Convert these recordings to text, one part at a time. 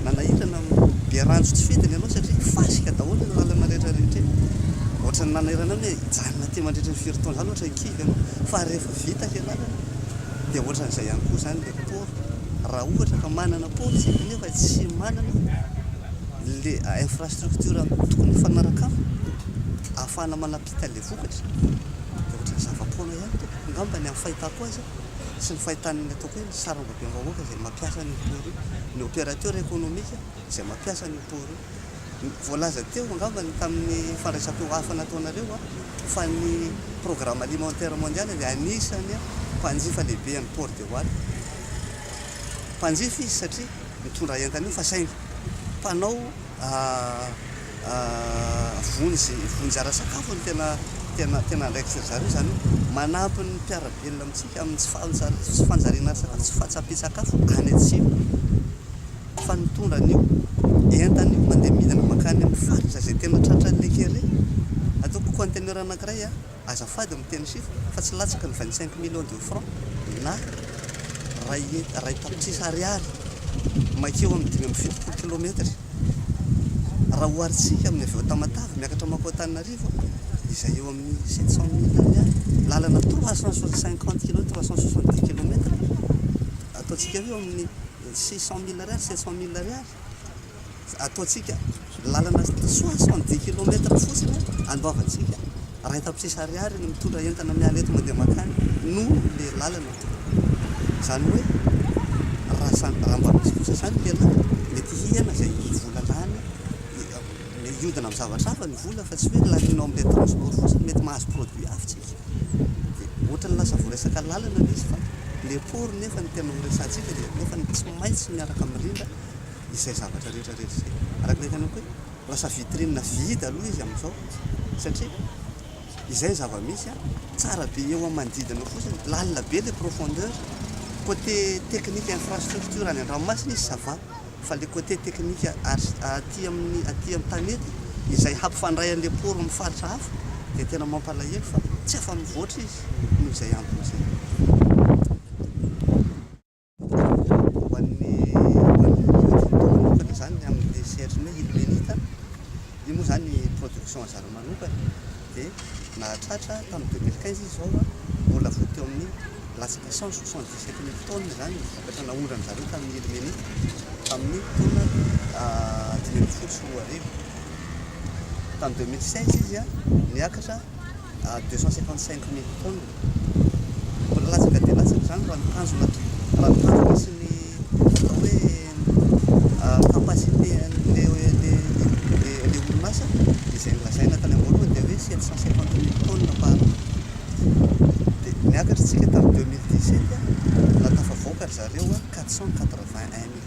Nanairana be ranjo tsy fidiny ianao satria fasika daholo ireo lalana rehetra rehetra eny. Ohatran'ny nanairana ny hoe hijanona aty mandritra ny firy taona izany ohatra ny kivy ianao fa rehefa vita ilay lalana dia ohatran'izay ihany koa izany ilay port. Raha ohatra ka manana port isika nefa tsy manana ilay infrastructure tokony hifanaraka aminy ahafahana manapita ilay vokatra dia ohatran'ny zava-poana ihany tompoko. angamba ny amin'ny fahitako azy sy ny fahitan'ny ataoko hoe ny sarambabem-bahoaka izay mampiasa an'io port io, ny opérateur économique izay mampiasa an'io port io. Voalaza teo angamba ny tamin'ny fandraisam-peo hafa nataonareo fa ny Programme Alimentaire Mondial dia anisan'ny mpanjifa lehibe an'ny Port de Wal. Mpanjifa izy satria mitondra entana io fa saingy mpanao. Vonjy, vonjy ara-tsakafo no tena, tena, tena andraikitry ry zareo. Izany hoe manampy ny mpiara-belona amintsika amin'ny tsy fanja, tsy fanjariana sakafo, tsy fahatsapian-tsakafo any an-tsena. Fa nitondra an'io entana io mandeha midina mankany amin'ny faritra izay tena tratran'ny le kere. Ataoko conteneur anankiray an. Azafady miteny chiffre fa tsy latsaky ny vingt cinq millions de franc na iray hect iray tapitrisa ariary maikeo amin'ny dimy amby fitopolo kilometry raha oharintsika amin'ny avy eo Tamatave miakatra mankao Antananarivo izay eo amin'ny sept cent mille ariary lalana trois cent cinquante kilomètre trois cent soixante dix kilometre ataontsika eo amin'ny six cent mille ariary sept cent mille ariary ataontsika lalana soixante dix kilomètre fotsiny andoavantsika raha eto tapitrisa ariary ny mitondra entana miala eto mandeha mankany no le lalana zany hoe raha samy raha mba misy kosa zany le lalana mety hiana zay vola lany hiodina amin'ny zavatra hafa ny vola fa tsy hoe lanianao amin'ilay transport fotsiny mety mahazo produit hafa tsika dia ohatran'ny lasa voaresaka lalana le izy fa le port nefa ny tena horesahantsika dia nefa ny tsy maintsy miaraka mirindra izay zavatra rehetra rehetra izay. Araka ny hitanao koa hoe lasa vitrine vide aloha izy amin'izao satria izay ny zava-misy an, tsara be eo amin'ny manodidina eo fotsiny, lalina be ilay profondeur, côté technique infrastructure any an-dranomasina izy ça va, fa ilay côté technique aty amin'ny aty amin'ny tanety izay hampifandray an'ilay port amin'ny faritra hafa dia tena mampalahelo fa tsy afa-mivoatra izy noho izay antony izay. Ho an'ny olona manokana izany ny amin'ilay sehatrin'ny hoe ilmenite a, io moa izany production anjarany manokana dia nahatratra tamin'ny deux mille quinze izy izao a, mbola vao teo amin'ny latsaka cent soixante dix sept mille tonnes izany ny vokatra naondran-dry zareo tamin'ny ilmenite tamin'ny taona dimy ambin'ny folo sy roa arivo. Tamin'ny deux mille seize izy a niakatra à deux cent cinquante cinq mille tonnes. Mbola latsaka dia latsaka izany raha ny tanjona raha ny tanjona sy ny atao hoe capacité an'ilay ilay orinasa dia izay nolazaina tany am-boalohany dia hoe sept cent cinquante mille tonnes par an. Dia niakatra isika tamin'ny deux mille dix sept dia tafavoaka ry zareo quatre cent quatre vingt un mille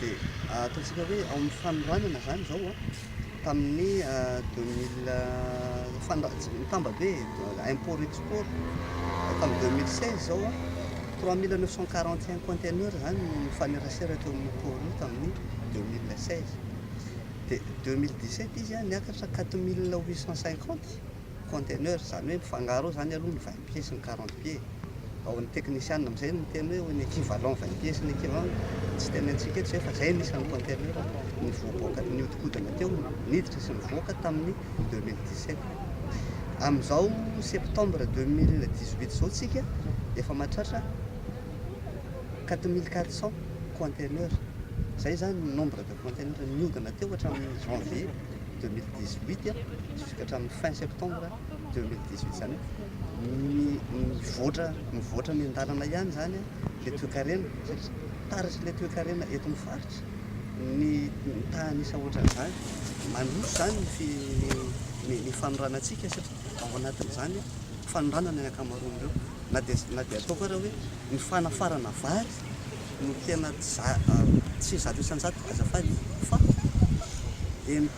Dia ataontsika hoe ao amin'ny fanoranana izany izao an, tamin'ny deux mille fanoran- tsy mitamba be e, import export, tamin'ny deux mille seize izao an, trois mille neuf cent quarante et un conteneurs izany no nifanerasera teo amin'io port io tamin'ny deux mille seize. Dia deux mille dix sept izy an, niakatra quatre mille huit cent cinquante. conteneur izany hoe mifangaro ao izany aloha ny vingt pieds sy ny quarante pieds ao ny teknisiana amin'izay no miteny hoe ny equivalent vingt pieds sy ny equivalent tsy teny antsika eto izay fa izay ny isan'ny conteneur nivoaboaka nihodinkodina teo niditra sy nivoaka tamin'ny deux mille dix sept amin'izao septembre deux mille dix huit izao tsika efa mahatratra quatre mille quatre cents conteneur izay izany ny nombre de conteneur nihodina teo hatramin'ny janvier deux mille dix huit jusqu'à hatramin'ny fin septembre deux mille dix huit zany hoe mivoatra mivoatra ny an-dalana ihany zany le toekarena satria taratry le toekarena eto amin'ny faritra ny tahan'isa ohatran'izany mandroso zany ny ny fanoranantsika satria ao anatin'izany fanoranana ny ankamaroan'ireo na dia na dia ataoko ara hoe ny fanafarana vary no tena tsy zato isan-jato azafady fa eny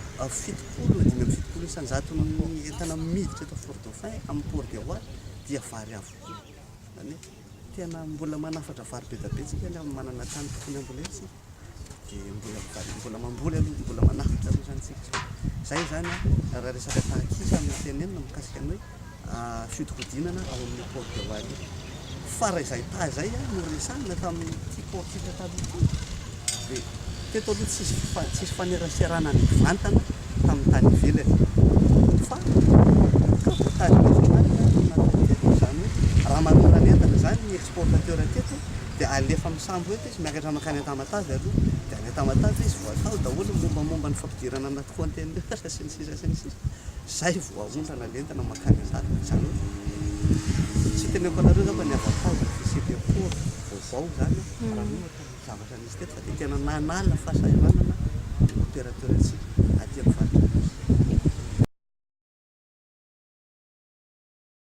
fitopolo na dimy amby fitopolo isan-jaton'ny entana miditra eto Fort Dauphin amin'ny Port de Houat dia vary avokoa. Izany hoe tena mbola manafatra vary be dia be isika nefa manana tany tokony hambolena isika. dia mbola mitady mbola mamboly aloha mbola manafatra aloha zany tsika zay zany a raha resaka tahak'isa amin'ny tenenina mikasika ny hoe fiodikodinana ao amin'ny port de wari fa raha izay taha izay a no resahina tamin'ny ti port tika taloha ity dia teto aloha tsisy fa- tsisy faneraserana ny vantana tamin'ny tany ivelany fa ka voatady mafinarina ny natao teto izany hoe raha manolona ny entana izany ny exportateur teto dia alefa amin'ny sambo eto Tsy miakatra mankany Antamatave aloha, dia any Antamatave izy vao atao daholo ny mombamomba ny fampidirana anaty conteneur sy ny sisa sy ny sisa, izay vao aondrana ny entana mankany an-dalana, izany hoe tsy teneniko anareo angamba ny avantage ny fisian'ireo port vaovao izany raha ny ohatra ny zavatra nisy teto fa dia tena nanala fahasahiranana ny opérateur-ntsika aty amin'ny faritra Anosy.